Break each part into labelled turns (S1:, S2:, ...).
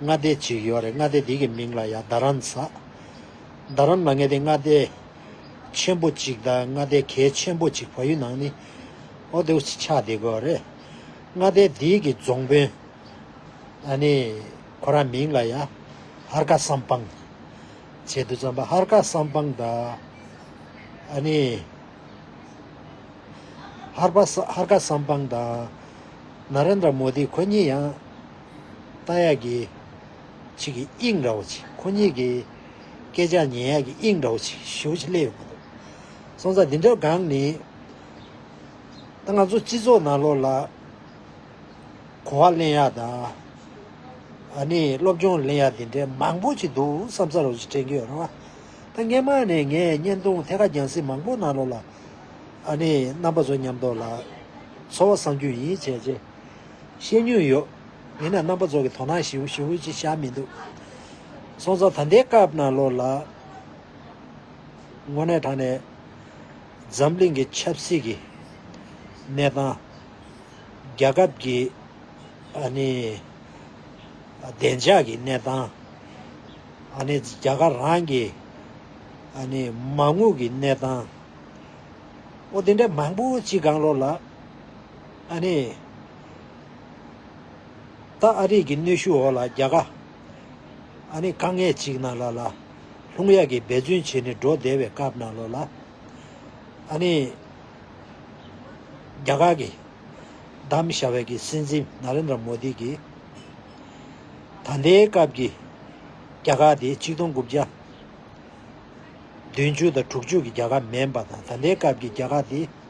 S1: མངའ་སྡེ་གཅིག་ཡོད་རེད་མངའ་སྡེ་དེ་གི་མིང་ལ་ཡང་རྡ་རམ་ས། རྡ་རམ་ལ་མངའ་སྡེ་མངའ་སྡེ་ཆེན་པོ་གཅིག་དང་མངའ་སྡེ་གལ་ཆེན་པོ་གཅིག་བ་ཡུལ་ནང་ནི་ཨོ་དེའུ་ཆི་ཆགས་བསྡད་དགོས་རེད། མངའ་སྡེ་དེ་གི་རྫོང་དཔོན་ཨ་ནི་ཁོ་རང་མིང་ལ་ཡང་ཧར་ཀ་སམ་པང་བྱས་འདུག་བརྩམས་པ་ཧར་ཀ་སམ་པང་དང་ཨ་ནི་ཧར་ཀ་སམ་པང་དང་ནཱ་རེན་དྲ་མོ་དི་ཁོ་གཉིས་ཡང་རྟ་ཡག་གི། ཆིག་གི་དབྱིངས་འདྲ་བོ་ཆིག་ཁོ་གཉིས་ཀྱི། སྐད་ཆ་ཉན་ཡག་གི་དབྱིངས་འདྲ་བོ་ཆིག་བཞུགས་ཆིག་ལེ་ཡོད་པོ་འདུག། སོང་ཙང་འདི་འདྲ་གང་ནི། ད་ང་ཚོ་སྤྱི་ཚོགས་ནང་ལོག་ལ། གོ་བ་གླེང་ཡག་དང། ཨ་ནི་སློབ་སྦྱོང་གླེང་ཡག་དེ་འདྲའི་མང་པོ་ཆིག་འདུག་བསམ་ས་རོགས་ཆིག་དྲན་གི་ཡོད་རེད་བ། ད་སྔན་མ་ནས་ངས་བརྙན་ཐུང་ཐད་ཀ་རྒྱང་སྲིང་མང་པོ་ནང་ལོག་ལ། ཨ་ནི་རྣམ་པ་ཚོ་ཉམས་ཐོག་ལ། འཚོ་བ་བསམ་རྒྱུ་ཡིན་བྱས་རྗེས། བཤད་མྱོང་ཡོད། ཡིན་ན་རྣམ་པ་ཚོ་གི་དོ་སྣང་ཞིག་ཞུ་ཧུ་ཅི་བྱ་མི་འདུག། སོང་ཙང་ད་ལྟའི་སྐབས་ན་ལོ་ལ། དངོས་གནས་དྲང་ནས། འཛམ་གླིང་གི་ཆབ་སྲིད་ཀྱི། གནས་སྟངས། རྒྱ་ཁབ་ཀྱི། ཨ་ནི། བདེ་འཇགས་ཀྱི་གནས་སྟངས། ཨ་ནི་རྒྱ་གར་རང་གི། ཨ་ནི་མ་དངུལ་གྱི་གནས་སྟངས། ཨོ་དེ་འདྲ་མང་པོ་ཅི་གང་ལོ་ལ། ཨ་ནེ། ད་ཨ་རིག་གི་གནོད་ཤུགས་འོག་ལ་རྒྱ་གར། ཨ་ནེ་དཀའ་ངལ་ཅིག་ན་ལ་ལ། ལྷུང་ཡག་གི་འབད་བརྩོན་བྱེད་ནས་འགྲོ་བདེ་བའི་སྐབས་ན་ལོ་ལ། ཨ་ནེ། རྒྱ་གར་གི། གདམ་བཞའ་བས་གི་སྲིད་འཛིན Narendra Modi གི། ད་ལྟའི་སྐབས་ཀྱི། རྒྱ་གར་དེ་གཅིག་སྟོང་དགུ་བརྒྱ། བདུན་བཅུ་དང་དྲུག་བཅུ་གི་རྒྱ་གར་མེན་པ་དང་ད་ལྟའི་སྐབས་ཀྱི་རྒྱ་གར་དེ།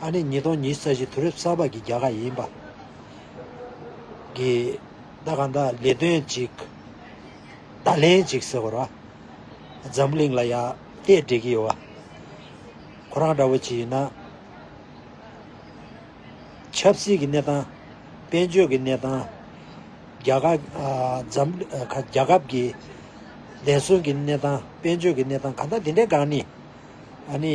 S1: ཨ་ནེ་ཉིས་སྟོང་ཉིས་བརྒྱད་བཞི་དུས་རབས་གསར་པ་གྱི་རྒྱལ་ཁ་ཡིན་པ། གི། ད་ག་འདྲ་ལས་དོན་ཅིག། བརྡ་ལན་ཅིག་ཟེར་བར། འཛམ་གླིང་ལ་ཡ། ལྟས་འབྲི་གི་ཡོད། ཁོ་རང་འདྲ་བོ་ཅིག་ཡིན་ན། ཆབ་སྲིད་ཀྱི་གནས་སྟངས། དཔལ་འབྱོར་གྱི་གནས་སྟངས། རྒྱ་ཁ། འཛམ། རྒྱ་ཁབ་ཀྱི། བདེན་སྲུང་གི་གནས་སྟངས་དཔལ་འབྱོར་གྱི་གནས་སྟངས་ག་འདྲ་དེ་འདྲའི་སྒང་ནི། ཨ་ནི།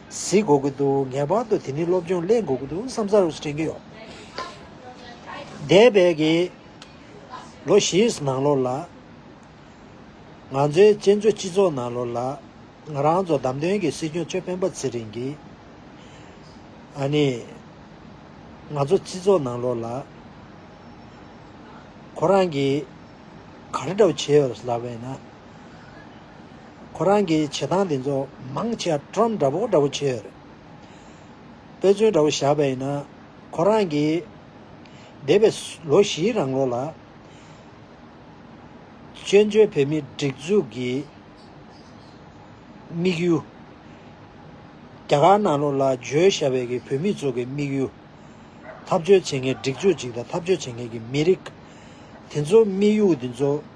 S1: གཟིགས་དགོས་ཀྱི་འདུག་ངེས་པར་དུ་དེ་ནི་སློབ་སྦྱོང་གླེང་དགོས་ཀྱི་འདུག་བསམ་ས་རུ་དྲན་གྱི་ཡོད། འདས་པའི་གི་ལོ་བཞིའི་ནང་ལོར་ལ། ང་ཚོའི་གཅན་བཟོད་སྤྱི་ཚོགས་ནང་ལོར་ལ། ང་རང་ཚོ་བདམས་ཐོན་གྱི་སྲིད་སྐྱོང་ཆོས་འཕེལ་འབའ་ཚེ་རིང་གིས། ཨ་ནི། ང་ཚོ་སྤྱི་ཚོགས་ནང་ལོར་ལ། ཁོ་རང་གིས་ག་རེ་འདྲ་བོ་བྱས་ཡོད་ལབ་པས་ན། ཁོ་རང་གི་བྱེད་སྟངས་འདི་ཚོ་མང་ཆེ་བ Trump འདྲ་པོ་འདྲ་པོ་བྱེད་ཡོད་རེད། དཔེ་མཚོན་འདྲ་པོ་བཞག་པ་ཡིན་ན། ཁོ་རང་གིས་འདས་པའི་ལོ་བཞིའི་རང་ལོ་ལ། བཙན་བྱོལ་བོད་མིའི་སྒྲིག་འཛུགས་ཀྱི་དམིགས་ཡུལ། རྒྱ་གར་ནང་ལོགས་ལ་བརྗོད་ཞྭ་བྷེ་གི་བོད་མི་ཚོ་གི་དམིགས་ཡུལ། འཐབ་རྩོད་བྱེད་མཁན་སྒྲིག་འཛུགས་ཅིག་དང་འཐབ་རྩོད་བྱེད་མཁན་གྱི་མི་རིགས། དེ་ཚོ་དམིགས་ཡུལ་འདི་ཚོ།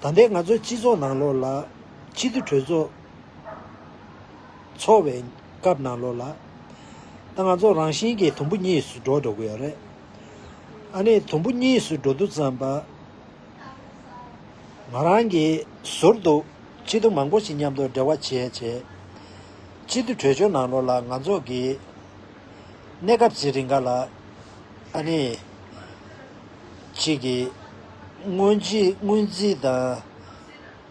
S1: ད་ལྟའི་ང་ཚོའི་སྤྱི་ཚོགས་ནང་ལོགས་ལ། སྤྱི་བསྡུས་གྲོས་ཚོགས་འཚོགས་བའི་སྐབས་ནང་ལོགས་ལ། ད་ང་ཚོ་རང་བཞིན་གྱིས་དུམ་བུ་གཉིས་སུ་འགྲོ་འགྲོ་གི་ཡོད་རེད། ཨ་ནི་དུམ་བུ་གཉིས་སུ་འགྲོ་འདུག་བསམ་པ། ང་རང་གིས་ཟུར་དུ་སྤྱི་བསྡུ་མང་པོ་ཞིག་མཉམ་དུ་འབྲེལ་བ་བྱས་བྱས། སྤྱི་བསྡུས་གྲོས་ཆོད་ནང་ལོགས་ལ་ང་ཚོ་གིས། གནས་སྐབས་ཅི་རིགས་འགའ་ལ། ཨ་ནི། གཅིག་གིས་དངུལ་རྩིས་དང་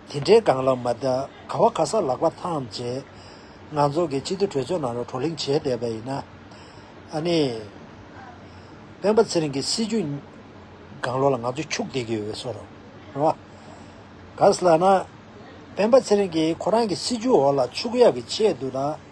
S1: དེ་འདྲའི་སྒང་ལ་མ་བལྟ། ག་བ་ག་ས་ལག་པ་ཐམས་ཅད་ང་ཚོ་གི་སྤྱི་འཐུས་གྲོས་ཚོགས་ནང་ལ་བགྲོ་གླེང་བྱས་བསྡད་པ་ཡིན་ན། ཨ་ནི། སྤེན་པ་ཚེ་རིང་གི་སྲིད་ཇུས་སྒང་ལོགས་ལ་ང་ཚོ་འཁྱུག་བསྡད་ཀྱི་ཡོད་བསོ་རོགས། རེད་བ། ག་ས་ལ་ན། སྤེན་པ་ཚེ་རིང་གིས་ཁོ་རང་གི་སྲིད་ཇུས་འོག་ལ་འཁྱུག་ཡག་གི་ཆེད་དུ་དང།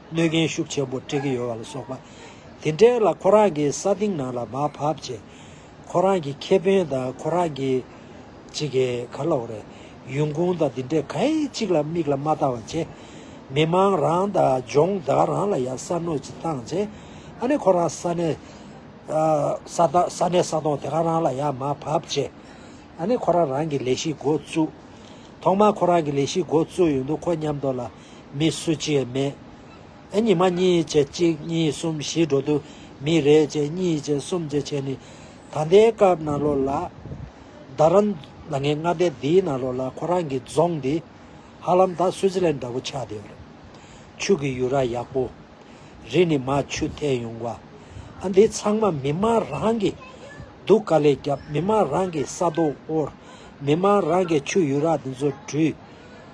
S1: གནོད་རྐྱེན་ཤུགས་ཆེན་པོ་སྤྲད་ཀྱི་ཡོད་པ་ལ་སོགས་པ། དེ་འབྲེལ་ལ་ཁོ་རང་གི་ས་སྟེང་ནང་ལ་མར་བབས་རྗེས། ཁོ་རང་གི་ཁེ་ཕན་དང་ཁོ་རང་གི། ཅི་གེ་ག་ལོག་རེ། ཡུན་གུང་དང་དེ་འདྲས་ག་ཡེ་གཅིག་ལ་མིག་ལ་མ་བལྟ་བ་བྱས། མི་དམངས་རང་དང་ལྗོངས་བདག་རང་ལ་ཡང་ས་གནོད་ཅིག་བཏང་རྗེས། ཨ་ནི་ཁོ་རང་ས་གནས་ས་གནས་ས་སྟོང་དེ་ག་རང་ལ་ཡང་མར་བབས་རྗེས། ཨ་ནི་ཁོ་རང་རང་གི་ལས་གཞི་འགོ་བཙུགས། ཐོག་མར་ཁོ་རང་གི་ལས་གཞི་འགོ་བཙུགས་ཡོད་འདུག་ཁོ་མཉམ་དུ་ལ། མི་སུ་གཅིག་མེད། ཨེ་ཉི་མ་གཉིས་བྱེད་གཅིག་གཉིས་གསུམ་བཞི་འགྲོ་དུས་མི་རེ་བྱེད་གཉིས་བྱེད་གསུམ་བྱེད་བྱེད་ནི། ད་ལྟའི་སྐབས་ནང་ལོགས་ལ། རྡ་ར། ལ་ངའི་སྔ་ལྟས་འདིའི་ནང་ལོགས་ལ་ཁོ་རང་གི་རྫོང་འདི། ཧ་ལམ་ད་སུའུ་ཙི་ལན་འདྲ་བོ་ཆགས་བསྡད་རེད། ཆུ་གི་ཡུལ་ར་ཡག་པོ། རི་ནི་མ་ཆུ་ཐད་ཡོང་བ། ཨ་འདི་ཚང་མ་མི་མང་རང་གི། སྡུག་དཀའ་ལས་རྒྱབ་མི་མང་རང་གི་ས་རྡོ་དབོར། མི་མང་རང་གི་ཆུ་ཡུལ་ར་འདི་ཚོ་བྲུས།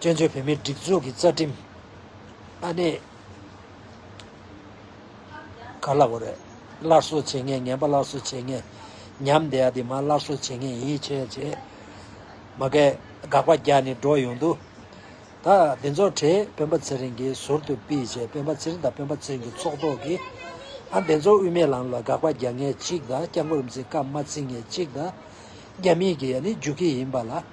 S1: བཙན་བྱོལ་བོད་མིའི་སྒྲིག་འཛུགས་ཀྱི་རྩ་ཁྲིམས་ཨ་ནེ། ག་ལ་བོ་རེད། སླར་གསོ་བྱེད་ངེས་ངན་པ་སླར་གསོ་བྱེད་ངེས། ཉམས་བདེ་ཡ་དེ་མ་སླར་གསོ་བྱེད་ངེས་ཡིད་ཆེས་བྱེད། མ་སྐད་དགག་པ་རྒྱ་ནི་སྒྲོག་ཡོང་དུས། ད་འདི་ཚོ་གྲས་སྤེན་པ་ཚེ་རིང་གིས་ཟུར་དུ་སྤིས་བྱས་སྤེན་པ་ཚེ་རིང་དང་སྤེན་པ་ཚེ་རིང་གི་ཚོགས་གཏོགས་ཀྱིས། ཨ་འདི་ཚོ་དབུས་མའི་ལམ་ལ་དགག་པ་རྒྱག་ངེས་གཅིག་དང་སྐྱབས་མགོན་རིམ་འཛིན་སྐབས་མ་བརྩི་ངེས་གཅིག་དང། རྒྱ་མིས་ཀྱི་ཡ་ནི་རྒྱུགས་ཁྱི་ཡིན་པ་ལ།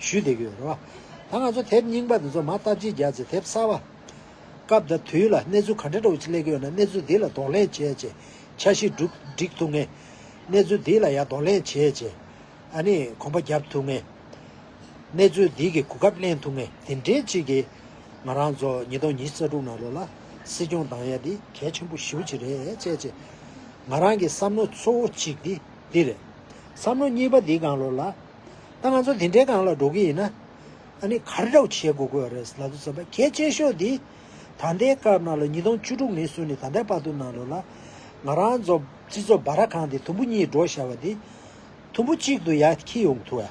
S1: ཞུས་བསྡད་ཡོད་རེད་བ། ད་ང་ཚོ་དེབ་རྙིང་པ་འདི་ཚོ་མ་བལྟ་ཅི་རྒྱག་ཅེས་དེབ་གསར་བ། སྐབས་དང་དུས་ལ་གནས་ཚུལ་ག་འདྲ་འདྲ་བོ་ཅིག་གླེགས་ཡོད་ན་གནས་ཚུལ་འདི་ལ་གདོང་ལེན་བྱས་རྗེས་འཆར་གཞི་སྒྲིག་ཐུབ་ངེས། གནས་ཚུལ་འདི་ལ་ཡང་གདོང་ལེན་བྱས་རྗེས་ཨ་ནི་གོམ་པ་བརྒྱབ་ཐུབ་ངེས། གནས་ཚུལ་འདི་གི་གོ་སྐབས་གླེང་ཐུབ་ངེས་དེ་འདྲའི་ཅིག་གིས། ང་རང་ཚོ་ཉིས་སྟོང་ཉིས་བརྒྱ་དྲུག་ནང་ལོ་ལ་སྲིད་སྐྱོང་བདང་ཡ་འདི་གལ་ཆེན་པོ་ཞིའུ་ཅིག་རེད་བྱས་རྗེས། ང་རང་གི་བསམ་མནོ་གཙོ་བོ་ཅིག་འདི་འདི་རེད། བསམ་མནོ་གཉིས་པ་འདི་གང་ལོ་ལ། ད་ང་ཚོ་དེ་འདྲའི་སྒང་ལ་འགྲོ་གི་ཡིན་ན། ཨ་ནི་གར་འདྲ་བོ་བྱེད་དགོས་ཀྱི་ཡོད་རེད་ལབ་ཙོ་བསམ་པ་གལ་ཆེ་ཤོས་འདི། ད་ལྟའི་སྐབས་ནང་ལོ་ཉིས་སྟོང་བཅུ་དྲུག་ནས་བཟུང་ནས་ད་ལྟའི་བར་དུ་ནང་ལོ་ལ། ང་རང་ཚོ་སྤྱི་ཚོགས་སྦ་ར་གང་དེ་དུམ་བུ་གཉིས་འགྲོ་ཤར་བ་འདི། དུམ་བུ་གཅིག་ཏུ་ཡ་ཁྱི་ཡོང་ཐུ་ཡ།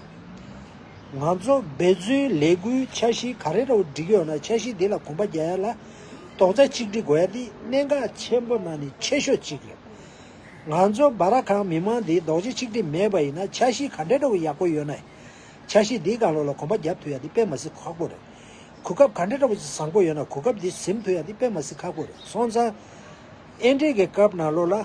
S1: ང་ཚོ་འབད་བརྩོན་ལས་འགུལ་འཆར་གཞི་ག་རེ་འདྲ་བོ་བསྒྲིགས་ཡོད་ན་འཆར་གཞི་འདི་ལ་གོམ་པ་རྒྱག་ཡ་ལ། རྡོག་རྩ་གཅིག་སྒྲིག་དགོས་ཡ་འདི་གནད་འགག་ཆེན་པོ་ནང་ནས་ཆེ་ཤོས་གཅིག་རེད། ང་ཚོ་སྦ་ར་ཁང་མི་མང་འདི་རྡོག་རྗེ་ཆིག་སྒྲིལ་མེད་པ་ཡིན་ན་འཆར་གཞི་ག་འདྲ་འགྲོ་གི་ཡག་པོ་ཡོད་ནའི། འཆར་གཞི་འདིའི་སྒང་ལོགས་ལ་གོམ་པ་རྒྱབ་ཐུབ་ཡག་འདི་དཔེ་མ་ཟིག་ཁག་པོ་རེད། གོ་སྐབས་ག་འདྲ་འགྲོ་གི་བཟང་པོ་ཡོད་ན་གོ་སྐབས་འདི་གཟིམ་ཐུབ་ཡག་འདི་དཔེ་མ་ཟིག་ཁག་པོ་རེད་སོང་ཙང། ཨེ་འགྲིག་གི་སྐབས་ནང་ལོགས་ལ།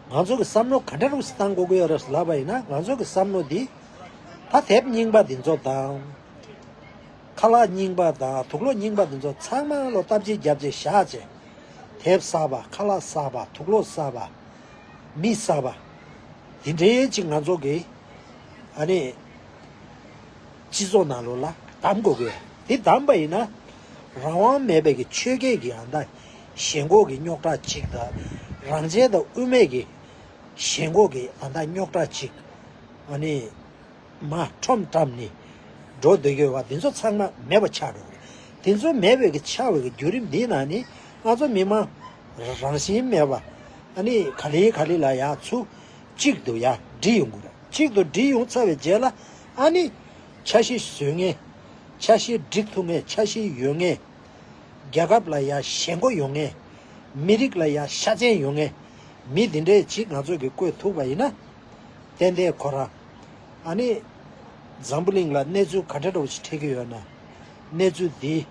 S1: ང་ཚོ་གི་བསམ་བློ་ག་འདྲ་འགྲོ་གི་སྟངས་གོ་གི་ཡོད་རབས་ལབ་པ་ཡིན་ན་ང་ཚོ་གི་བསམ་བློ་འདི། ད་དེབ་རྙིང་པ་འདི་ཚོ་དང། ཁ་ལག་རྙིང་པ་དང་དུག་ལོག་རྙིང་པ་འདི་ཚོ་ཚང་མ་ལོ་སྟབས་ཅིག་བརྒྱབ་རྗེས་བཞག་རྗེས། དེབ་བསགས་པ་ཁ་ལག་བསགས་པ་དུག་ལོག་བསགས་པ། མི་བསགས་པ། འདི་འདྲའི་ཅིག་ང་ཚོ་གི། ཨ་ནི། སྤྱི་ཚོགས་ནང་ལོ་ལ་གདམ་དགོས་གི། འདི་གདམ་པ་ཡིན་ན། རང་དབང་མེད་པའི་གི་ཆོས་སྐད་ཀྱི་ཡང་དག་ཞེན་ཁོག་གི་རྙོག་དྲ་ཅིག་དང། རང་བྱས་དང་དབུ་མེད་ཀྱི། ཞེན་ཁོག་གི་ཡང་དག་རྙོག་དྲ་ཅིག། ཨ་ནི། མ་ཁྲོམ་བཀྲམ་ནི། འགྲོ་འདོད་སྐྱོ་བ་འདི་ཚོ་ཚང་མ་མེད་པ་ཆགས་འགྲོ་གི། དེ་ཚོ་མེད་པའི་གི་ཆགས་བའི་གི་བརྒྱུད་རིམ་འདི་ན་ནི། ང་ཚོ་མི་མང། རང་བཞིན་མེད་པ། ཨ་ནི་ག་ལི་ག་ལི་ལ་ཡང་ཚུ། གཅིག་ཏུ་ཡང་སྒྲིལ་ཡོང་དགོས། གཅིག་ཏུ་སྒྲིལ་ཡོང་ཚར་བའི་རྗེས་ལ། ཨ་ནི། ཆ་ཤི་བཟོད་ངེས། ཆ་ཤི་སྒྲིག་ཐུབ་ངེས་ཆ་ཤི་ཡོད་ངེས། རྒྱལ་ཁབ་ལ་ཡང་ཞེན་མགོ་ཡོང་ངེས། མི་རིགས་ལ་ཡང་ཤ་ཅན་ཡོང་ངེས། མི་འདི་འདྲའི་གཅིག་ང་ཚོས་གི་བཀོད་ཐུབ་པ་ཡིན་ན། ཏན་ཏན་གོ་ར། ཨ་ནི། འཛམ་བུ་གླིང་ལ་གནས་ཚུལ་ག་འདྲ་འགྲོ་བ་ཞིག་འཕྲད་ཀྱི་ཡོད་ན། གནས་ཚུལ་འདི།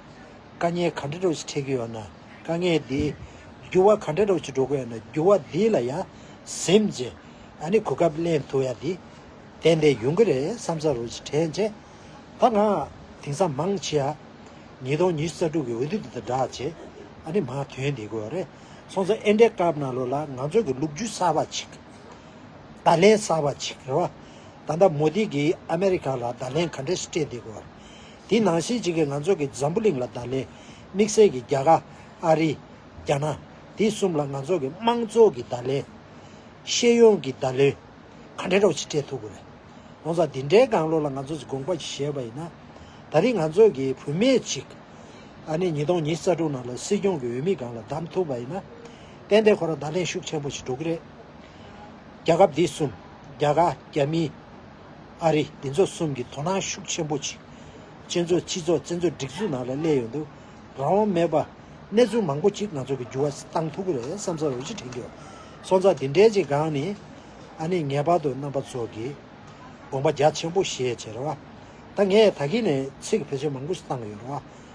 S1: དཀའ་ངལ་ག་འདྲ་འགྲོ་བ་ཞིག་འཕྲད་ཀྱི་ཡོད་ན་དཀའ་ངལ་འདི། འགྱུར་བ་ག་འདྲ་འགྲོ་བ་ཞིག་འགྲོ་གི་ཡོད་ན་འགྱུར་བ་འདི་ལ་ཡང་གཟིམ་རྗེས། ཨ་ནི་གོ་སྐབས་གླེང་ཐུབ་ཡ་འདི། ཏན་ཏན་ཡོང་གི་རེད་བསམ་ས་རུ་ཞིག་དྲན་རྗེས། ད་ང། དེང་སང་མང་ཆེ་ཡ། ཉིས་སྟོང་ཉི་ཤུ་རྩ་དྲུག་གི་འོས་བསྡུ་འདི་དང་སྦྲགས་རྗེས། ཨ་ནི་མ་དོན་འདི་གོ་རེ། སོང་ཙང་ཨེ་འདྲའི་སྐབས་ནང་ལོ་ལ་ང་ཚོ་གི་ལུག་རྒྱུ་གསར་པ་ཅིག། བརྡ་ལན་གསར་བ་ཅིག་རེད་བ། ད་ལྟ་མོ་དྷི་གིས་ཨ་མེ་རི་ཁ་ལ་བརྡ་ལན་ག་འདྲས་སྤྲད་འདུག་གོ། དེ་ནང་བཞིན་ཅིག་གིས་ང་ཚོ་གི་འཛམ་བུ་གླིང་ལ་བརྡ་ལན་དམིགས་བསལ་གྱི་རྒྱ་གར། ཨ་རི། རྒྱ་ནག། དེ་གསུམ་ལ་ང་ཚོ་གི་དམངས་གཙོ་གི་བརྡ་ལན། ཤེས་ཡོན་གྱི་བརྡ་ལན། ག་འདྲས་རོགས་ཅིག་སྤྲད་ཐུབ་གི་རེད། ཡོང་ཙང་འདི་འདྲའི་དགང་བློ་ལ་ང་ཚོ་ཅིག་དགོངས་པ་ཅིག་བཞེས་བ་ཡིན་ན། ད་རིང་ང་ཚོ་གི་བུད་མེད་ཅིག། ཨ་ནི་ཉིས་སྟོང་ཉིས་རྩ་དྲུག་ནང་ལ་སྲིད་སྐྱོང་གི་འོས་མི་སྒང་ལ་བདམས་ཐུབ་བ་ཡིན་ན། ཏན་ཏན་ཁོ་རང་བརྡ་ལན་ཤུགས་ཆེན་པོ་ཞིག་འགྲོ་གི་རེད། རྒྱལ་ཁབ་འདི་གསུམ། རྒྱ་གར། རྒྱ་མི། ཨ་རི། འདི་ཚོ་གསུམ་གྱི་དོ་སྣང་ཤུགས་ཆེན་པོ་བྱེད། ཅན་ཚོ་སྤྱི་ཚོགས་བཙན་འཛུལ་སྒྲིག་འཛུགས་ནང་ལ་སླེབས་ཡོད་འདུག་རང་དབང་མེད་པ། གནས་ཚུལ་མང་པོ་གཅིག་ང་ཚོ་གི་འགྱུར་བ་གཏང་ཐུབ་ཀྱི་རེད་བསམ་ཚར་འོས་གཞི་དྲན་རྒྱུ། སོང་ཙང་འདི་འདྲའི་ཅིག་སྒང་ནི། ཨ་ནི་ངེས་པར་དུ་རྣམ་པ་ཚོ་གི། དགོངས་པ་རྒྱ་ཆེན་པོ་བཞེས་བྱས་རེད་བ། ད་ངས་ད་གིན་ནས་ཚིག་ཕལ་ཆེར་མང་པོ་ཞིག་བཏང་གི་ཡོད་རེད་བ།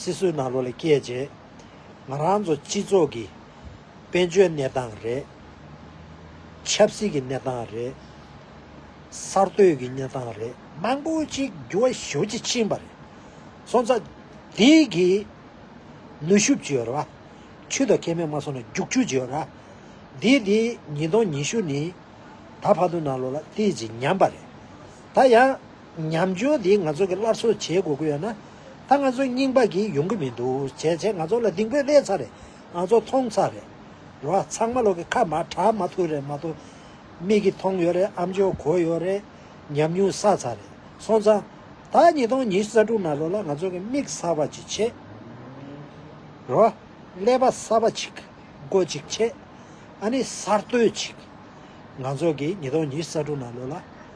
S1: སྲིད་སྲོལ་ནང་ལོ་ལེགས་སྐྱེས་རྗེས། ང་རང་ཚོ་སྤྱི་ཚོགས་ཀྱི་དཔལ་འབྱོར་གནས་སྟངས་རེད། ཆབ་སྲིད་ཀྱི་གནས་སྟངས་རེད། གསར་གཏོད་ཀྱི་གནས་སྟངས་རེད། མང་པོ་ཅིག་འགྱུར་བ་ཤུགས་ཆེ་ཕྱིན་པ་རེད། སོང་ཙང། དེ་གི་ནུས་ཤུགས་བརྗེས་ར། ཆུ་དང་ཁེ་མེད་མ་སོང་ན་རྒྱུག་ཆུ་བརྗེས་ར། དེ་དེ་ཉིས་སྟོང་ཉི་ཤུ་ནི་ད་བར་དུ་ནང་ལོ་ལ་ལྟས་ཀྱིས་ཉམས་པ་རེད། ད་ཡང། ཉམས་ཆུང་དེ་ང་ཚོ་གི་སླར་གསོ་བྱེད་དགོས་ཀྱི་ཡོད་ན། ད་ང་ཚོ་རྙིང་པ་གི་ཡོང་གི་མི་འདུག་བྱས་བྱས་ང་ཚོ་ལ་སྡིང་པོས་བསླད་ཚར་རེད་ང་ཚོ་མཐོང་ཚར་རེད། རོ་ཚང་མ་ལོག་གི་ཁ་མ་གྲག་མ་ཐུག་རེད་མ་གཏོགས། མིག་གི་མཐོང་ཡོད་རེད་ཨམ་ཆོས་གོ་ཡོད་རེད། ཉམས་མྱོང་བསགས་ཚར་རེད་སོང་ཙང། ད་ཉིས་སྟོང་ཉི་ས་དྲུག་ན་ལོ་ལ་ང་ཚོ་གི་མིག་གསར་པ་ཅིག་ཕྱེས། རོ། ཀླད་པ་གསར་པ་ཅིག་མགོ་ཅིག་ཕྱེས། ཨ་ནི་གསར་གཏོད་ཅིག། ང་ཚོ་གི་ཉིས་སྟོང་ཉི་ས་དྲུག་ན་ལོ་ལ།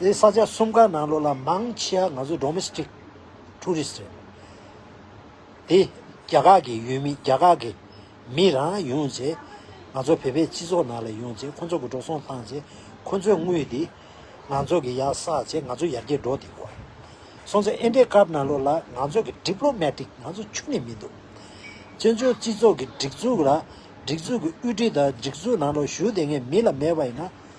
S1: དེ་ས་ཆ་གསུམ་ག་ནང་ལོ་ལ་མང་ཆེ་བ་ང་ཚོ Domestic Tourist རེད། དེ་རྒྱ་གར་གྱི་ཡུལ་མི་རྒྱ་གར་གྱི་མི་རང་ཡོང་རྗེས་ང་ཚོ་བོད་པའི་སྤྱི་ཚོགས་ནང་ལ་ཡོང་རྗེས་ཁོ་ཚོ་གི་འགྲོ་སོང་བཏང་རྗེས་ཁོ་ཚོའི་དངུལ་དེ་ང་ཚོ་གི་ཡར་བསགས་རྗེས་ང་ཚོ་ཡར་རྒྱས་འགྲོ་དེ་གོ། སོང་ཚེ་ཨིན་དྲའི་སྐབས་ནང་ལོ་ལ་ང་ཚོ་གི Diplomatic ང་ཚོ་ཆུང་ནས་མི་འདུག་བཙན་བྱོལ་སྤྱི་ཚོགས་ཀྱི་སྒྲིག་འཛུགས་ལ་སྒྲིག་འཛུགས་ཀྱི་དབུས་འབྲི་དང་སྒྲིག་འཛུགས་ནང་ལོ་ཞུགས་དེ་ངས་མི་ལ་མེད་པ་ཡིན་ན།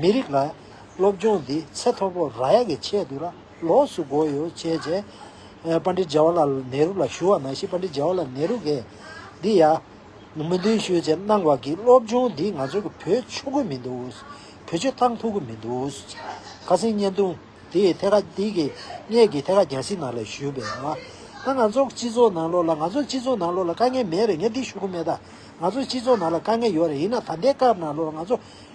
S1: མི་རིགས་ལ། སློབ་སྦྱོང་འདི་ཚད་མཐོ་པོ་རག་ཡ་གི་ཆེད་དུ་ར་ལོགས་སུ་བགོ་ཡོད་ཅེས་བརྗེད། པན་ཏྲི་ཇཱ་ཝཱ་ལ་ནེ་རུ་ལ་ཞུ་བ་མ་གཞི་པན་ཏྲི་ཇཱ་ཝཱ་ལ་ནེ་རུ་གས། འདི་ཡ། མི་འདུན་ཞུ་ཅེས་གནང་བ་གིས་སློབ་སྦྱོང་འདི་ང་ཚོ་གི་བུ་ཆོ་གི་མི་འདུག། བུ་ཆོ་ཐང་ཐུག་གི་མི་འདུག། ཁ་སེང་བརྙན་ཐུང་དེ་ཐད་ཀ་དེ་གི་སྙད་ཀྱི་ཐད་ཀ་རྒྱ་སི་ནག་ལ་ཞུས་པས། ད་ང་ཚོ་སྤྱི་ཚོགས་ནང་ལོགས་ལ་ང་ཚོ་སྤྱི་ཚོགས་ནང་ལོགས་ལ་དཀའ་ངལ་མེད་རེད་ངས་འདི་ཞུ་གི་མེད་ད། ང་ཚོ་སྤྱི་ཚོགས་ནང་ལ་དཀའ་ངལ་ཡོད་རེད་ཡིན་ན་ད་ལྟའི་སྐབས་ནང་ལོགས་ལ་ང་ཚོ།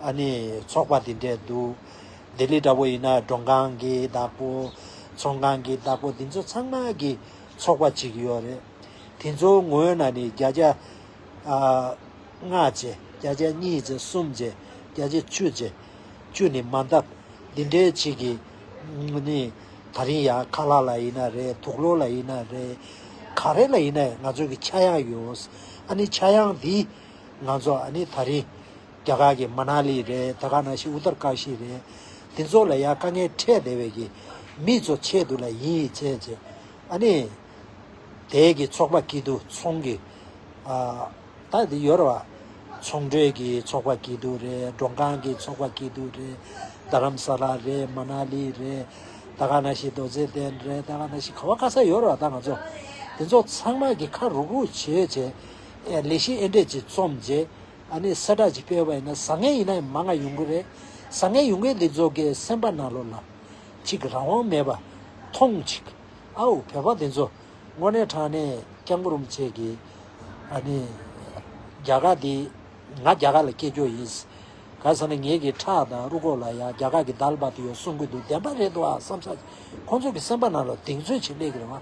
S1: ཨ་ནི་ཚོགས་པ་འདི་འདྲས་འདུག་ལྡི་ལི་འདྲ་བོ་ཡིན་ན་མགྲོན་ཁང་གི་བདག་པོ། ཚོང་ཁང་གི་བདག་པོ་འདི་ཚོ་ཚང་མ་གི་ཚོགས་པ་གཅིག་ཡོད་རེད། དེ་ཚོའི་ངོས་ན་ནི་བརྒྱ་ཆ་ལྔ་བཅས་བརྒྱ་ཆ་གཉིས་བཅས་གསུམ་བཅས་བརྒྱ་ཆ་བཅུ་བཅས་བཅུ་ནི་མ་འདབ་འདི་འདྲས་གཅིག་གི་ནི་ད་རིང་ཡ་ཁ་ལག་ལ་ཡིན་ན་རེད་དུག་ལོ་ལ་ཡིན་ན་རེད་ག་རེ་ལ་ཡིན་ན་ང་ཚོ་གི་ཆ་ཡང་ཡོད། ཨ་ནི་ཆ་ཡང་འདི་ང་ཚོ་ཨ་ནི་ད་རིང། རྒྱ་གར་གྱི་མ་ནཱ་ལི་རེད་ད་ག་ན་ཤི་ཨུ་ཏར་ཀ་ཤི་རེད། དེ་ཚོ་ལ་ཡང་དཀའ་ངལ་འཕྲད་བསྡད་བས་ཀྱི། མི་ཚོ་ཆེད་དུ་ལ་ཡིན་ཡིན་བྱས་བྱས། ཨ་ནི། དེ་གི་ཚོགས་པ་ཀི་དུ་ཚོང་གི། ཨ། ད་དེ་ཡོད་ར་བ། ཚོང་འབྲེལ་གི་ཚོགས་པ་ཀི་དུ་རེད་མགྲོན་ཁང་གི་ཚོགས་པ་ཀི་དུ་རེད། རྡ་རམ་ས་ལ་རེད་མ་ནཱ་ལི་རེད། ད་ག་ན་ཤི་རྡོ་རྗེ་གདན་རེད་ད་ག་ན་ཤི་ག་བ་ག་ས་ཡོད་ར་བ་ད་ང་ཚོ། དེ་ཚོ་ཚང་མ་གི་ཁ་རུག་རུག་བྱས་བྱས། ཨེ་ལི་ཤི་ཨེ་འདྲས་ཅིག་རྩོམ་བྱས། ཨ་ནི་གསལ་བསྒྲགས་ཅིག་སྤེལ་བ་ཡིན་ན་བཟང་ངན་ཡིན་ན་ཡང་མ་ང་ཡོང་གི་རེད། བཟང་ངན་ཡོང་གི་འདུག་མཛོ་དགའི་སེམས་པ་ན་ལོ་ལ། ཅིག་རང་དབང་མེད་པ། ཐོངས་ཅིག། ཨའུ་བོད་པ་འདི་ཚོ། དངོས་གནས་དྲང་གནས་སྐྱག་འབུར་རུམ་ཆད་ཀྱི། ཨ་ནི། རྒྱ་གར་འདི། ང་རྒྱ་གར་ལ་སྐྱེས་འགྱོ་ཡིན། ག་ས་ན་ངེད་ཀྱི་ཁྲག་དང་རུ་ཁོག་ལ་ཡང་རྒྱ་གར་གྱི་དར་ལ་བབ་ཏུ་ཡོད་གསུང་གི་འདུག་བདེན་པ་རེད་འདུག་ཨ་བསམ་ས་ཅིག་ཁོང་ཚོ་གི་སེམས་པ་ན་ལོ་གདེང་ཚོད་ཅིག་སླེབས་ཀྱི་རེད་མ།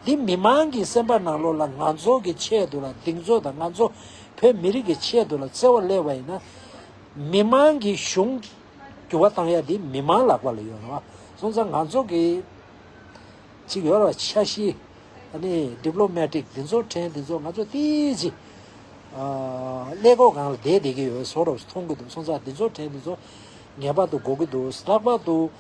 S1: འདི་མི་མང་གི་སེམས་པ་ནང་ལོག་ལ་ང་ཚོ་གི་ཆེད་དུ་ལ་སྡིངས་ཚོ་དང་ང་ཚོ་བོད་མི་རིགས་ཀྱི་ཆེད་དུ་ལ་བརྩེ་བ་སླེ་བ་ཡིན་ན། མི་མང་གི་གཞུང་འགྱུར་བ་གཏང་ཡ་འདི་མི་མང་ལག་པ་ལ་ཡོད་རེད་བ། སོང་ཙང་ང་ཚོ་གི་ཅིག་ཡོད་རེད་བ་ཆ་གཞི་ནི Diplomatic འདི་ཚོ་ཕྲན་འདི་ཚོ་ང་ཚོ་ཏི་ཅི་སླེ་གོ་གང་ལ་བསྡད་བསྡད་ཀྱི་ཡོད་བ་བཟོ་རོགས་སུ་མཐོང་གི་འདུག་སོང་ཙང་འདི་ཚོ་ཕྲན་འདི་ཚོ་ངེས་པར་དུ་འགོག་གི་འདུག་ལྷག་པར་དུ།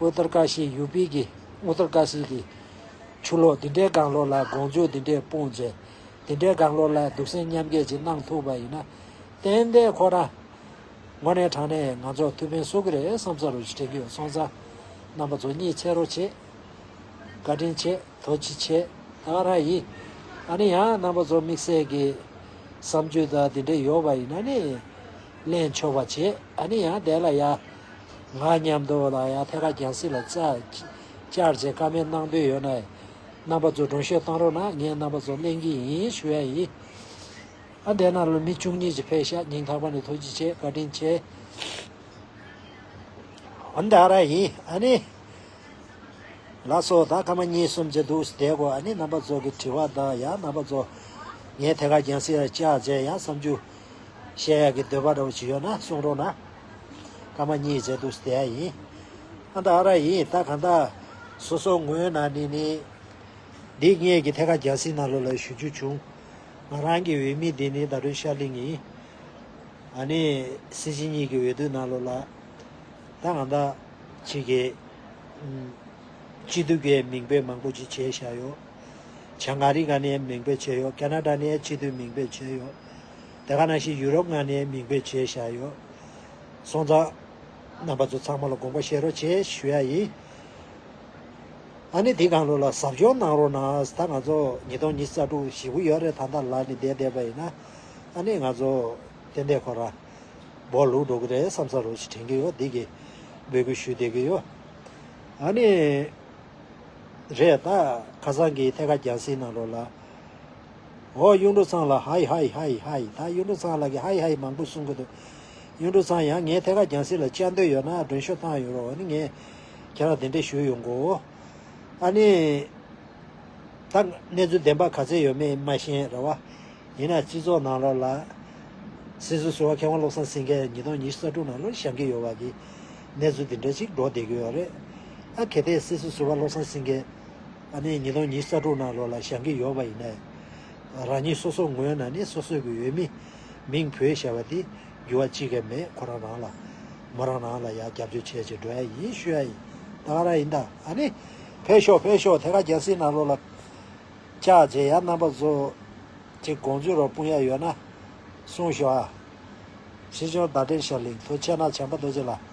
S1: ཨུ་ཏར་ཀ་ཤི་ཡུ་པི་གི Uttarkashi གི་ཆུ་ལོག་འདི་འདྲའི་སྒང་ལོགས་ལ་དགོངས་བརྗོད་འདི་འདྲས་སྤུངས་རྗེས། འདི་འདྲའི་སྒང་ལོགས་ལ་སྡུག་སྲན་མཉམ་སྐྱེད་ཅིག་གནང་ཐུབ་པ་ཡིན་ན། ཏན་ཏན་ཁོ་རང་ངོ་ནས་དྲང་ནས་ང་ཚོར་ཐུགས་ཕན་གསོ་གི་རེད་བསམ་ས་རུ་དྲན་གྱི་ཡོད་སོང་ཙང། རྣམ་པ་ཚོ་གཉིས་ཆེ་རོ་ཆེ། བཀའ་དྲིན་ཆེ་དོ་ཅི་ཆེ་ད་ར་ཡིན། ཨ་ནི་ཡང་རྣམ་པ་ཚོ་དམིགས་བསལ་གི་བསམ་ཚུལ་དག་འདི་འདྲས་ཡོད་པ་ཡིན་ན་ནི། གླེང་ཆོག་པ་བྱེད་ཨ་ནི་ཡང་བསྡད་ལ་ཡ། ང་སྙམ་དུ་ལ་ཡང་ཐད་ཀར་རྒྱང་སྲིད་ལ་བཙའ། བཅར་བྱེད་ཀ་མེད་གནང་འདོད་ཡོད་ན། རྣམ་པ་ཚོ་སྒྲུང་ཤོད་བཏང་རོགས་གནང་ངས་རྣམ་པ་ཚོ་གླེང་གི་ཡིན་ཞུ་ཡ་ཡིན། ཨ་འདས་ན་ལོ་མི་བཅུ་གཉིས་ཀྱི་ཕས་ཤ་ཉིང་ཐག་པ་ནས་ཐུགས་རྗེ་ཆེ་བཀའ་དྲིན་ཆེ། ཨ་འདས་ར་ཡིན་ཨ་ནི། ལ་སོ་ད་སྐར་མ་གཉིས་གསུམ་གྱི་འདུག་བསྡད་གོ་ཨ་ནི་རྣམ་པ་ཚོ་གི་དྲི་བ་དང་ཡང་རྣམ་པ་ཚོ། ངས་ཐད་ཀར་རྒྱང་སྲིད་ལ་བཅར་བྱས་ཡང་བསམ་རྒྱུ། བཤད་ཡག་གི་འདོད་པ་འདྲ་བོ་ཇི་ཡོད་ན་གསུང་རོགས་གནང། ཀ་མ་ཉིད་ཅེས་འདུག་སྟེ་ཨ་ཡིན། ཨ་འདག་ཨ་ར་ཡིན་ད་གང་ལྟ། སོ་སོ་ངོས་ན་ནི་ནི། འདི་སྔས་ཀྱི་ཐད་ཀ་རྒྱལ་སྲིད་ནང་ལོ་ལ་ཞུ་རྒྱུ་བྱུང། ང་རང་གི་འོས་མི་འདི་ནི་ད་དུང་ཤར་གླིང་ཡིན། ཨ་ནི་སྲིད་སྤྱི་གཉིས་ཀྱི་འོས་བསྡུ་ནང་ལོ་ལ། ད་གང་ལྟ། ཅིག་གི། སྤྱི་འཐུས་ཀྱི་མིང་འབོད་མང་པོ་ཅིག་བྱས་བཞག་ཡོད། བྱང་ག་རི་ག་ནས་མིང་འབོད་བྱས་ཡོད་ཀ་ན་ད་ནས་སྤྱི་འཐུས་མིང་འབོད་བྱས་ཡོད། དེ་ག་ནང་བཞིན་ཡུ་རོབ་མངའ་གནས་མིང་འབོད་བྱས་བཞག་ཡོད། སོང་ཙང། རྣམ་པ་ཚོ་ཚང་མ་ལ་དགོངས་པ་བཞེས་རོགས་བྱས་ཞུ་ཡ་ཡིན། ཨ་ནི་དེ་གང་ལུགས་ལ་ཟབ་སྦྱོང་གནང་རོགས་གནང་ད་ང་ཚོ་ཉིས་སྟོང་ཉིས་རྩ་དྲུག་བཞི་དགུ་ཡོད་རེད་ད་ལྟ་ལར་ནི་བསྡད་བསྡད་པ་ཡིན་ན། ཨ་ནི་ང་ཚོ་བསྟན་བསྟན་ཁོ་རང། འབོག་ལུག་འགྲོ་གི་རེད་བསམ་ས་རོགས་ཞེས་དྲན་གི་ཡོད་བསྡད་ཀི། འབོད་སྐུལ་ཞུས་བསྡད་ཀི་ཡོད། ཨ་ནི། རེད་ད། ཁ་སང་གི་ཐད་ཀ་རྒྱང་བསྲིང་གནང་རོགས་ལ། འོ་གཡུང་དྲུང་ཚང་ལགས་ཧའི་ཧའི་ཧའི་ཧའི་ད་གཡུང་དྲུང་ཚང་ལགས་ཀྱི་ཧའི་ཧའི་མང་པོ་གསུང་གི་འདུག་གཡུང་དྲུང་ཚང་ཡང་ངས་ཐད་ཀར་རྒྱང་སྲིང་ལ་བཅར་འདོད་ཡོད་ན་སྒྲོན་ཤོག་བཏང་ཡོད་རོགས་འོ་ནི་ངས་ཁྱེད་རང་དེ་འདྲས་ཞུ་ཡོང་གོ། ཨ་ནི། ད་གནས་ཚུལ་བདེན་པ་ག་ཚད་ཡོད་མེད་མ་ཤེས་ར་བ། ཡིན་ན་སྤྱི་ཚོགས་ནང་ལོགས་ལ། སྲིད་ཟུར་ཟུར་བ་མཁས་དབང་བློ་བཟང་སེང་གེ་ཉིས་སྟོང་ཉི་ཤུ་རྩ་དྲུག་ནང་ལོགས་བཞག་གི་ཡོད་བ་གི། གནས་ཚུལ་འདི་འདྲས་ཅིག་སྒྲོག་བསྡད་ཀྱི་ཡོད་རེད། ཨ་གལ་ཏེ་སྲིད་ཟུར་ཟུར་བ་བློ་བཟང་སེང་གེ། ཨ་ནེ་ཉི་སྟོང་ཉིས་རྩ་དྲུག་ནང་ལོགས་ལ་ཞང་གི་ཡོག་པ་ཡིན་ན། རང་ཉིད་སོ་སོ་ངོས་ན་ནི་སོ་སོས་ཀྱི་ཡོད་མི། མིང་བོད་ཞེས་པ་དེ་འགྱུར་བ་ཅི་གས་མེད་ཁོ་རང་རང་ལ། མོ་རང་རང་ལ་ཡང་རྒྱབ་སྐྱོར་བྱས་ཅེས་འགྲོ་ཡ་ཡིན་ཤོད་ཡ་ཡིན་ད་ག་ར་ཡིན་ད་ཨ་ནེ། ཕེབས་ཤོག་ཕེབས་ཤོག་དེ་ག་རྒྱ་སྲིད་ནང་ལོགས་ལ། ཅག་རྗེ་ཡག་རྣམ་པ་ཚོ། ཅིག་དགོངས་ཚུལ་རོགས་སྤུངས་ཡ་ཡོད་ན། གསུངས་ཤོག་ཨ། ཞི་ཅོང་ཟླ་བསྒྲིལ་ཤར་གླིང་ཐུ་ཆེ་ནག་བྱམས་པ་རྡོ་རྗེ་ལགས།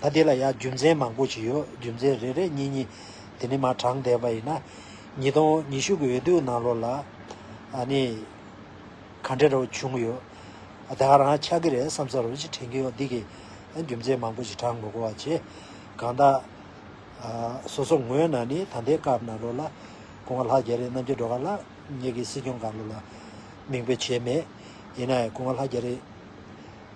S1: ད་དེ་ལ་ཡང་རྒྱུ་མཚན་མང་པོ་ཞིག་ཡོད་རྒྱུ་མཚན་རེ་རེ་གཉིས་གཉིས་དེ་ནི་མ་དྲངས་བསྡད་པ་ཡིན། ཉིས་སྟོང་ཉི་ཤུ་གི་འོས་བསྡུའི་ནང་ལོ་ལ་ཨ་ནི་ག་འདྲ་རེ་བྱུང་གི་ཡོད་ད་ག་རང་ཆགས་ཀྱི་རེད་བསམ་ས་རུ་ཅིག་དྲན་གྱི་ཡོད་འདི་གི་རྒྱུ་མཚན་མང་པོ་ཞིག་དྲངས་མི་དགོས་བ་བྱས་གང་དག་སོ་སོ་ངོས་ན་ནི་ད་ལྟའི་སྐབས་ན་ལོ་ལ་དགུང་བ་ལྷག་བརྒྱད་རེ་གནམ་གྱི་འགྲོ་ག་ལ་ཉེ་གི་སྲིད་སྐྱོང་ག་ལོ་ལ་མིང་འབོད་བྱས་མེད་ཡིན་ན་ཡང་དགུང་བ་ལྷག་བརྒྱད་རེ།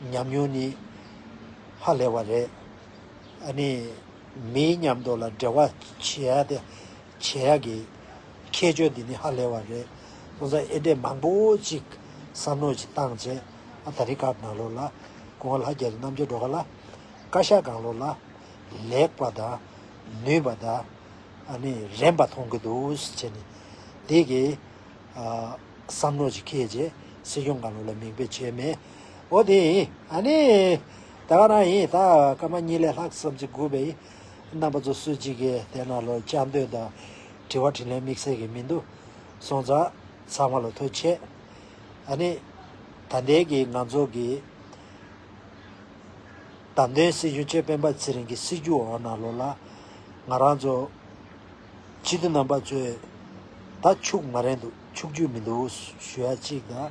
S1: ཉམས་མྱོང་ནི་ཧ་ལས་བ་རེད། ཨ་ནི་མིའི་ཉམས་རྟོགས་ལ་འབྲེལ་བ་བྱེད་ཡག་སྟེ། བྱེད་ཡག་གི་ཁྱད་ཆོས་འདི་ནི་ཧ་ལས་བ་རེད། སྐུ་ཚ་ཨེ་འདྲས་མང་པོ་ཅིག་བསམ་མནོ་ཅིག་བཏང་རྗེས་ཨ་ད་རི་ཀར་ནང་ལོག་ལ། སྐུ་ངོ་ལྷ་རྒྱལ་གྱི་རྣམ་དཔྱོད་སྒྲོག་ག་ལ། བཀའ་ཤག་སྒང་ལོག་ལ། ལེགས་པ་དང། ནུས་པ་དང། ཨ་ནི་རན་པ་མཐོང་གི་འདུག་བྱས་ནས། དེ་གའི། བསམ་མནོ་ཅིག་ཁེལ་རྗེས་སྲིད་སྐྱོང་སྒང་ལོག་ལ་མིང་དཔེ་བྱས་མེད། འོ་དེ་ཡིན་ཨ་ནི། བདག་རང་ཡིན་ད་སྐར་མ་གཉིས་ལས་ལྷག་བསམ་གྱིས་སྒུག་པའི། རྣམ་པ་ཚོ་སུ་གཅིག་གིས་བལྟས་ན་ལོ་བཅའ་འདོད་དང། དྲི་བ་དྲིས་ལན་དམིགས་བསལ་གྱི་མི་འདུག། སོང་ཙང། ཚང་མ་ལོ་ཐོ་ཆད། ཨ་ནི། ད་ལྟའི་གི་ང་ཚོ་གི། བདམས་ཐོན་སྲིད་གཞུང་ཆེད་སྤེན་པ་ཚེ་རིང་གི་སྲིད་ཇུས་འོག་ན་ལོ་ལ། ང་རང་ཚོ། སྤྱི་འཐུས་རྣམ་པ་ཚོས། ད་ཕྱུགས་མ་རེད་འདུག་ཕྱུགས་ཇུས་མི་འདུག་ཞུ་ཡ་གཅིག་དང།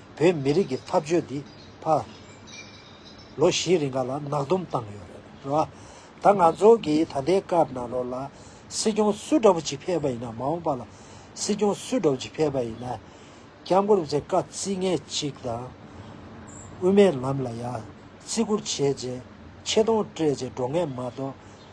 S1: བོད་མི་རིགས་ཀྱི་ཐབས་བྱུས་འདི་ཕ། ལོ་བཞིའི་རིང་ག་ལ་ནག་སྡོམ་བཏང་ཡོད་རེད་རེད་བ། ད་ང་ཚོ་གིས་ད་ལྟའི་སྐབས་ནང་ལོགས་ལ་སྲིད་སྐྱོང་སུ་འདྲ་བོ་ཅིག་ཕེབས་པ་ཡིན་ན་མ་འོངས་པ་ལ་སྲིད་སྐྱོང་སུ་འདྲ་བོ་ཅིག་ཕེབས་པ་ཡིན་ན། སྐྱབས་མགོན་ཚེ་དཀའ་རྩིས་ངན་ཅིག་དང། དབུ་མའི་ལམ་ལ་ཡང་བརྩི་བཀུར་བྱས་རྗེས་ཆེ་མཐོང་སྤྲད་རྗེས་འགྲོ་ངེས་མ་གཏོགས།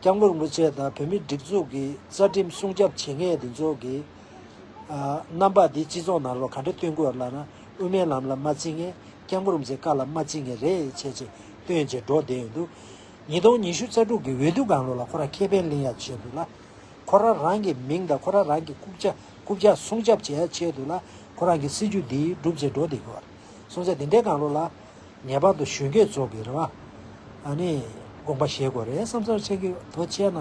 S1: རྐྱང་ལོར་དམུ་ཆེ་དང་བོད་མིའི་སྒྲིག་འཛུགས་ཀྱི་རྩ་ཁྲིམས་སྲུང་སྐྱབ་བྱེད་མཁན་དེ་ཚོ་གི་རྣམ་པ་དེ་སྤྱི་ཚོགས་ནང་ལོ་ག་འདྲ་སྟོན་དགོས་ལབ་ན་དབུ་མའི་ལམ་ལ་མ་རྩི་ངེས་རྐྱང་ལོར་མཛེས་དཀར་ལ་མ་རྩི་ངེས་རེད་བྱས་རྗེས་སྟོན་བྱེད་འགྲོ་བསྡད་ཡོད་འདུག་ཉིས་སྟོང་ཉི་ཤུ་རྩ་དྲུག་གི་འོས་བསྡུ་སྒང་ལོ་ལ་ཁོ་རང་ཁེ་ཕན་གླེང་ཡ་བྱས་འདུག་ལ། ཁོ་རང་རང་གི་མིང་དང་ཁོ་རང་རང་གི་རྐུབ་བཅག་སྲུང་སྐྱབ་བྱེད་ཡ་བྱས་འདུག་ལ་ཁོ་རང་གི་སྲིད་ཇུས་དེ་སྒྲུབ་བྱེད་འགྲོ་བསྡད་ཡོད། སྲུང་བྱ་དེ་འདྲའི་སྒང་ལོ་ལ། ངེས་པར་དུ་གཞོན་སྐྱེས་ཚོགས་ཀྱི་རེ་བ་ནི་དགོངས་པ་བཞེས་དགོས་རེད་བསམ་སོང་ཆེན་གྱིས་དོ་ཅེ་ན།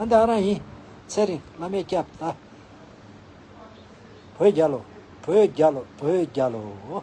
S1: ཨ་འདི་ཨ་རང་ཡིན། ཚེ་རིང་བླ་མས་སྐྱབས་བདག། བོད་རྒྱལ་ལོ། བོད་རྒྱལ་ལོ་བོད་རྒྱལ་ལོ།